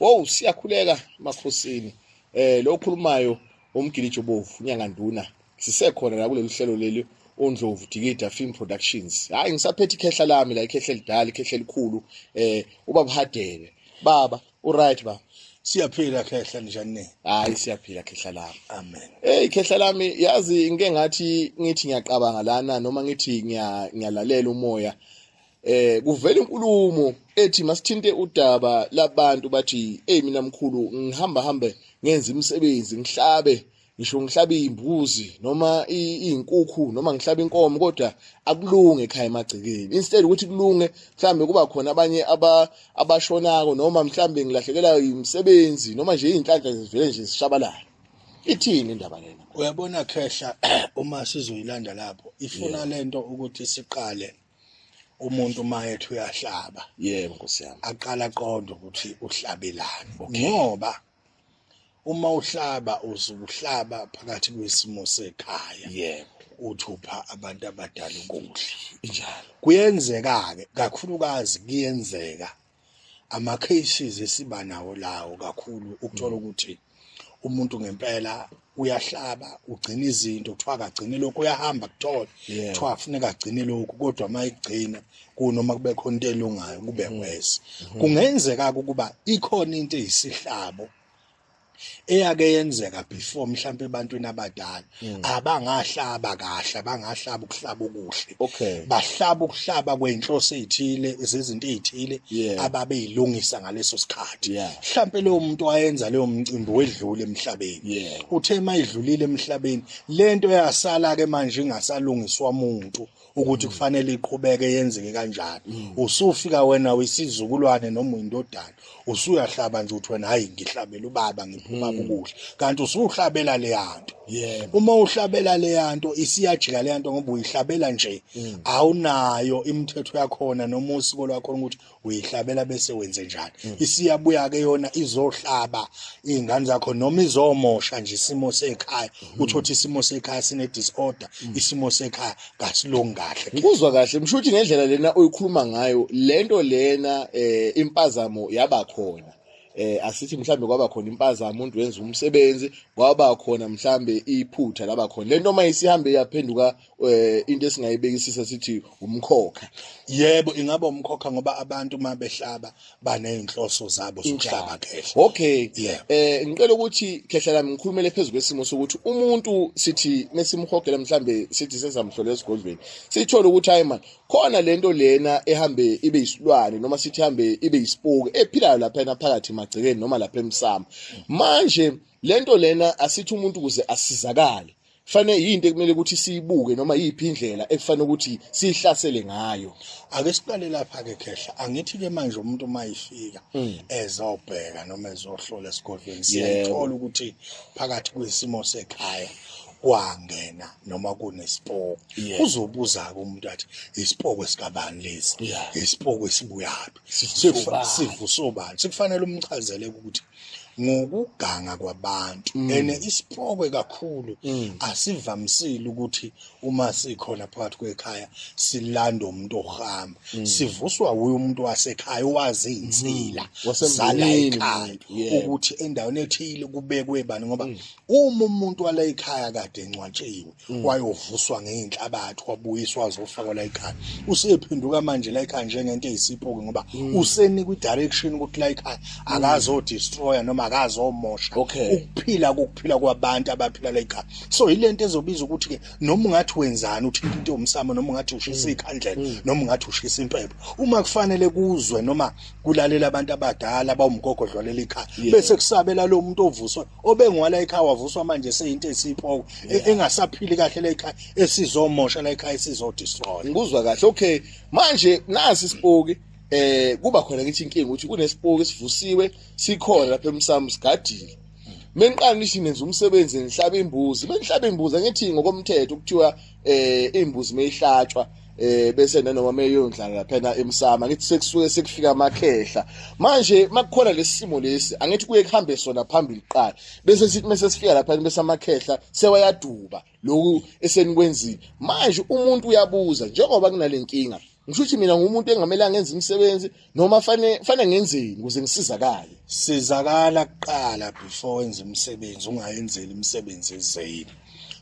Wow siyakhuleka makhosini eh lo khulumayo umgilijo bovu nyanganduna sisekhona la kuleli hlelo leli ondlovu dikida film productions hayi ngisaphethe ikhehla lami la ikhehla elidala ikhehla elikhulu eh ubaba hadebe baba u right baba siyaphila khehla njani hayi siyaphila khehla lami amen hey khehla lami yazi ngike ngathi ngithi ngiyaqabanga lana noma ngithi ngiyalalela umoya eh kuvela inkulumo ethi masithinte udaba labantu bathi hey mina mkhulu ngihamba hambe ngenza imisebenzi ngihlabe ngisho ngihlabe imbuzi noma izinkukhu noma ngihlabe inkomo kodwa akulunge ekhaya emagcekeni instead ukuthi kulunge mhlambe kuba khona abanye aba abashonako noma mhlambe ngilahlekela imisebenzi noma nje izinhlanhla zivele nje zishabalala ithini indaba lena uyabona khehla uma sizoyilanda lapho ifuna lento ukuthi siqale umuntu uma ethi uyahlaba yebo nkosi yami aqala aqonde ukuthi uhlabelani ngoba uma uhlaba uzuhlaba phakathi kwesimo sekhaya yebo uthupha abantu abadala ukudla njalo kuyenzeka ke kakhulukazi kuyenzeka ama cases esiba nawo lawo kakhulu ukuthola ukuthi umuntu ngempela uyahlaba ugcina izinto kuthiwa akagcine lokhu uyahamba kuthola kuthiwa afuneka agcine lokhu kodwa uma egcina kunoma kube khona into elungayo kube mm. worse mm-hmm. kungenzeka ukuba ikhona into eyisihlabo eyake yenzeka before mhlawumbe ebantwini abadala hmm. abangahlaba kahle abangahlaba ukuhlaba okuhle okay bahlaba ukuhlaba kwenhloso ezithile izinto ezithile ababeyilungisa ngaleso sikhathi mhlawumbe leyo muntu wayenza leyo mcimbi wedlule emhlabeni uthe mayidlulile emhlabeni lento yasala ke manje ingasalungiswa umuntu ukuthi kufanele iqhubeke yenzeke kanjani mm. usufika wena uyisizukulwane noma uyindodana usuyahlaba nje uthi wena hayi ngihlabela ubaba ngiphuma mm. kukuhle kanti usuhlabela leyanto uma uhlabela leyanto isiyajika leyanto ngoba uyihlabela nje mm. awunayo imithetho yakhona noma usiko lwakhona ukuthi uyihlabela bese wenze njani mm. isiyabuya ke yona izohlaba izingane zakho noma izomosha nje isimo sekhaya mm. uthothi isimo sekhaya sine disorder mm. isimo sekhaya kasilongi kahle ngikuzwa kahle mshuthi ngendlela lena oyikhuluma ngayo lento lena eh, impazamo yaba khona eh asithi mhlambe kwaba khona impazamo umuntu wenza umsebenzi kwaba khona mhlambe iphutha laba khona lento uma isihambe yaphenduka eh into esingayibekisisa sithi umkhokha yebo ingaba umkhokha ngoba abantu uma behlaba banezinhloso zabo zokuhlaba khehla okay yeah. eh ngicela ukuthi khehla lami ngikhulumele phezulu kwesimo sokuthi umuntu sithi nesimhogela mhlambe sithi sesamhlola esigodlweni sithola ukuthi hayi man khona lento lena ehambe ibe yisilwane noma sithi hambe ibe yisipuku ephilayo lapha phakathi emagcekeni noma lapha emsamo manje lento lena asithi umuntu kuze asizakale fanele yinto ekumele ukuthi siyibuke noma yiphi indlela ekufanele ukuthi sihlasele ngayo ake siqale lapha ke khehla angithi ke manje umuntu mayifika hmm. ezobheka noma ezohlola esigodlweni siyayithola ukuthi phakathi kwesimo sekhaya kwangena noma kunesipoko uzobuza ke umuntu athi isipoko esikabani lesi isipoko esibuyaphi sivusobani sikufanele umchazele ukuthi ngokuganga kwabantu mm. ene isipokwe kakhulu mm. asivamisile ukuthi uma sikhona phakathi kwekhaya silanda umuntu ohamba mm. sivuswa wuye umuntu wasekhaya owazi insila sala ekhaya ukuthi endaweni ethile kubekwe bani ngoba uma umuntu wala ekhaya kade encwatshiwe Mm. wayovuswa ngeyinhlabathi wabuyiswa azofakwa la ekhaya usephenduka manje la ekhaya njengento eyisipho-ke ngoba mm. usenikwa i-direction ukuthi la ekhaya mm. akazodestroya noma akazomosha ukuphila kokuphila kwabantu abaphila la ekhaya so yile nto ezobiza ukuthi-ke noma ungathi wenzani uthinta into yomsamo noma ungathi ushisa ikhandlela noma ungathi ushisa impepho uma kufanele kuzwe noma kulalela abantu abadala bawumgogodlwalela ikhaya bese kusabela lo muntu ovuswa obengwala ekhaya wavuswa manje seyinto esipoko e- engasaphili kahle la ekhaya esizomosha la ekhaya esizodestroy ngikuzwa kahle okay manje nasi isipoki eh kuba khona ngithi inkinga ukuthi kunesipoki esivusiwe sikhona lapha emsamu sigadile mengiqala ngithi nenza umsebenzi ngihlaba imbuzi bengihlaba imbuzi angithi ngokomthetho kuthiwa eh imbuzi meyihlatshwa eh bese nanoma meyondlala phela emsama ngithi sekusuke sekufika amakhehla manje makukhona lesimo lesi angithi kuye kuhambe sona phambili qala bese sithi mase sifika lapha bese amakhehla sewayaduba lokhu esenikwenzile manje umuntu uyabuza njengoba kunalenkinga ngisho ukuthi mina ngumuntu engamele angenza imisebenzi noma fane fane ngenzeni ukuze ngisizakale sizakala kuqala before wenza umsebenzi ungayenzeli imisebenzi ezeyini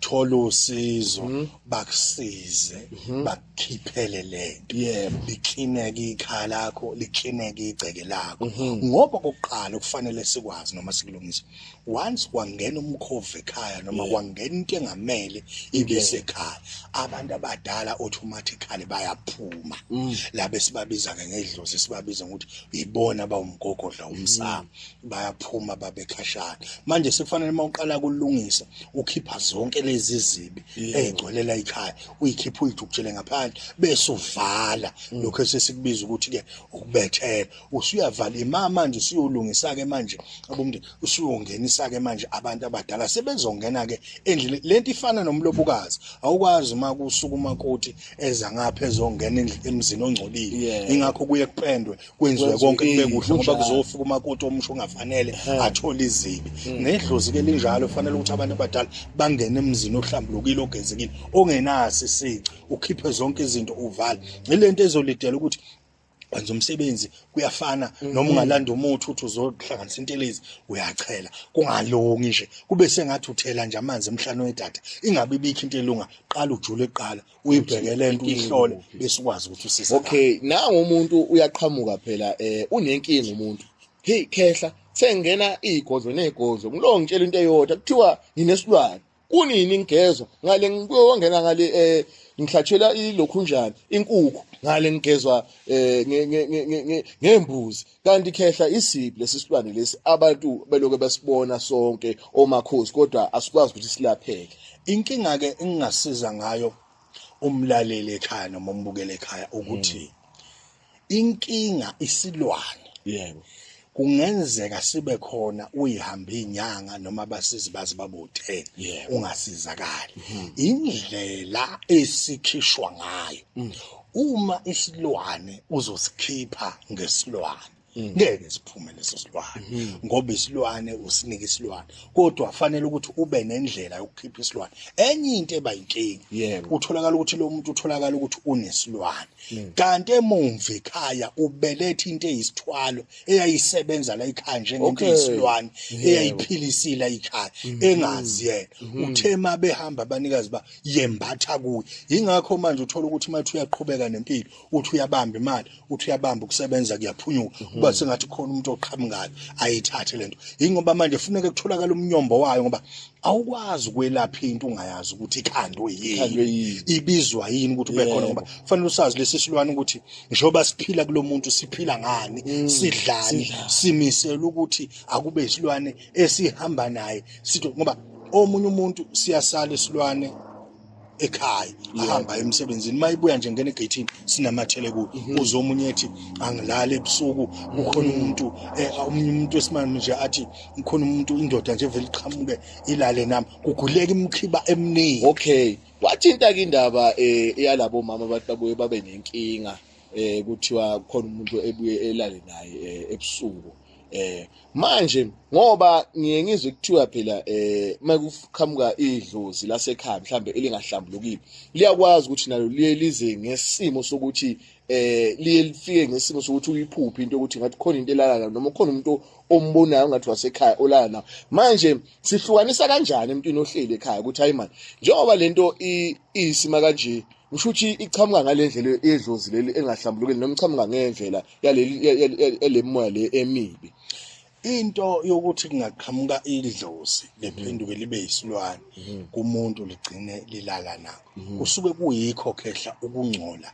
thola usizo mhm. bakusize mhm. bakukhiphele lento yebo liklineke ikhala lakho liklineke igceke lakho mhm. ngoba kokuqala kufanele sikwazi noma sikulungise once kwangena umkhovu ekhaya noma kwangena into engamele ibe sekhaya abantu abadala automatically bayaphuma mm. labe sibabiza ke ngedlozi sibabiza ngokuthi yibona bawumgogodla umsamo mm. bayaphuma babekhashana manje sekufanele uma uqala kulungisa ukhipha zonke lezi zibi ezigcwelela ikhaya uyikhipha uyidukutshele ngaphandle bese uvala mm. lokho esesikubiza ukuthi ke ukubethela usuyavala ima manje usuyolungisa ke manje abomndeni usuyongenisa ke manje abantu abadala sebezongena ke endlini lento ifana nomlobukazi awukwazi uma kusuka umakoti eza ngapha ezongena endlini emzini ongcolile ingakho kuye kupendwe kwenziwe konke kube kuhle ngoba kuzofika umakoti omusho ongafanele athole izibi hmm. nedlozi ke linjalo fanele ukuthi abantu abadala bangene emzini ohlambulukile ogezekile ongenasi isici ukhiphe zonke izinto uvale ilento ezolidela ukuthi kwenza umsebenzi kuyafana mhm. noma ungalanda umuthi uthi uzohlanganisa intelezi uyachela kungalongi nje kube sengathi uthela nje amanzi emhlane wedada ingabe ibikho into elunga qala ujule qala uyibhekele into uyihlole bese ukwazi ukuthi usise okay na umuntu uyaqhamuka phela eh unenkinga umuntu hey khehla sengena igodlo negodlo ngilongitshela into eyodwa kuthiwa nginesilwane kunini ngigezwa ngale ngiyongena ngale eh ngihlatshelwa ilokhunjana inkukhu ngale ngigezwa eh ngembuzi kanti khehla isiphi lesisilwane lesi abantu beloke basibona sonke omakhosi kodwa asikwazi ukuthi silapheke inkinga ke engingasiza ngayo umlaleli ekhaya noma umbukele ekhaya ukuthi hmm. inkinga isilwane yebo kungenzeka sibe khona uyihambe inyanga noma abasizi bazi babuthe ungasizakali mhm. indlela esikhishwa ngayo mm. uma isilwane uzosikhipha ngesilwane Mm. ngeke siphume leso silwane mm-hmm. ngoba isilwane usinike isilwane kodwa fanele ukuthi ube nendlela yokukhipha isilwane enye into ebayinkinga utholakala ukuthi lo muntu utholakala ukuthi unesilwane hmm. kanti emumva ekhaya ubelethe into eyisithwalo eyayisebenza la ikhaya njengento eyisilwane eyayiphilisile ikhaya hmm. engazi yena hmm. uthe uma behamba abanikazi ba yembatha kuye yingakho manje uthola ukuthi uma uyaqhubeka nempilo uthi uyabamba imali uthi uyabamba ukusebenza kuyaphunyuka kuba sengathi khona umuntu oqhamukayo ayithathe lento yingoba manje funeka kutholakala umnyombo wayo ngoba awukwazi ukwelapha into ungayazi ukuthi ikhandwe yini ibizwa yini ukuthi ube khona ngoba kufanele usazi lesi silwane ukuthi njengoba siphila kulomuntu siphila ngani mm. sidlani simisela ukuthi akube isilwane esihamba naye sithi ngoba omunye umuntu siyasala isilwane ekhaya ahamba emsebenzini uma ibuya nje ngena egeyithini sinamathele kuyo mhm. uze omunye ethi angilali ebusuku kukhona mhm. umuntu eh, omunye umuntu wesimame nje athi kukhona umuntu indoda nje vele iqhamuke ilale nami kuguleka imkhiba eminingi okay wathinta-ke indaba um eh, yalabo mama abantu babuye babe nenkinga um kuthiwa kukhona umuntu ebuye elale naye um ebusuku eh manje ngoba ngiye ngizwe kuthiwa phela eh makuqhamuka idlozi lasekhaya mhlambe elingahlambulukile liyakwazi ukuthi nalo liye lize ngesimo sokuthi eh liye lifike ngesimo sokuthi uyiphuphe into ukuthi ngathi khona into elala nayo noma khona umuntu ombonayo ngathi wasekhaya olala nayo manje sihlukanisa kanjani emntwini ohleli ekhaya ukuthi hayi manje njengoba lento isima kanje ngisho ukuthi iqhamuka ngalendlela edlozi leli engahlambulukile noma iqhamuka ngendlela yalemoya le emibi into yokuthi kungaqhamuka idlozi lephenduke libe yisilwane mhm. kumuntu ligcine lilala nakho mhm. kusuke kuyikho khehla ukungcola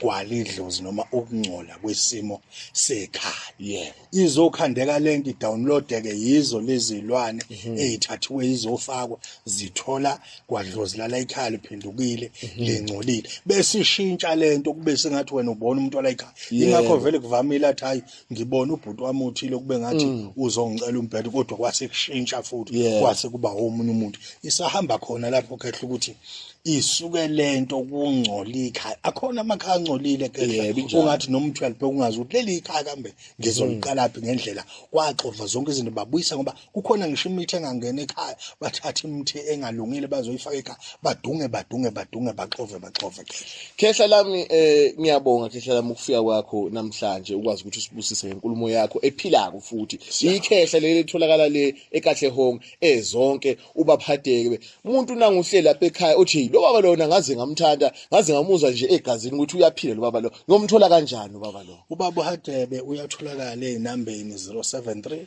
kwalidlozi noma ukungcola kwesimo sekhaya izokhandeka lento idownloadeke yizo lezilwane mhm. ezithathiwe izofakwa zithola kwadlozi lala ekhaya liphendukile mhm. lingcolile bese ishintsha lento kube sengathi wena ubona umuntu wala ekhaya ingakho vele kuvamile athi hayi ngibona ubhuti wami uthile kube ngathi mm. uzongicela umbhedo kodwa kwase kushintsha futhi kwase kuba omunye umuntu isahamba khona lapho khehla ukuthi isuke lento kungcola ikhaya akhona amakhaya angcolile khehla ungathi noma uthwele bhekungazi ukuthi leli ikhaya kambe ngizoliqalaphi mm. ngendlela kwaxova zonke izinto babuyisa ngoba kukhona ngisho imithi engangena ekhaya bathatha imithi engalungile bazoyifaka ekhaya badunge badunge badunge baxove baxove khehla lami eh ngiyabonga khehla lami ukufika kwakho namhlanje ukwazi ukuthi usibusise ngenkulumo yakho ephilako futhi ikhehla leli litholakala le ekahle home ezonke eh, ubaphatheke umuntu nanguhle lapha ekhaya othi lo baba lona ngaze ngamthanda ngaze ngamuzwa nje egazini ukuthi uyaphila lo baba lo ngomthola kanjani ubaba lo ubaba uhadebe uyatholakala ezinambeni 073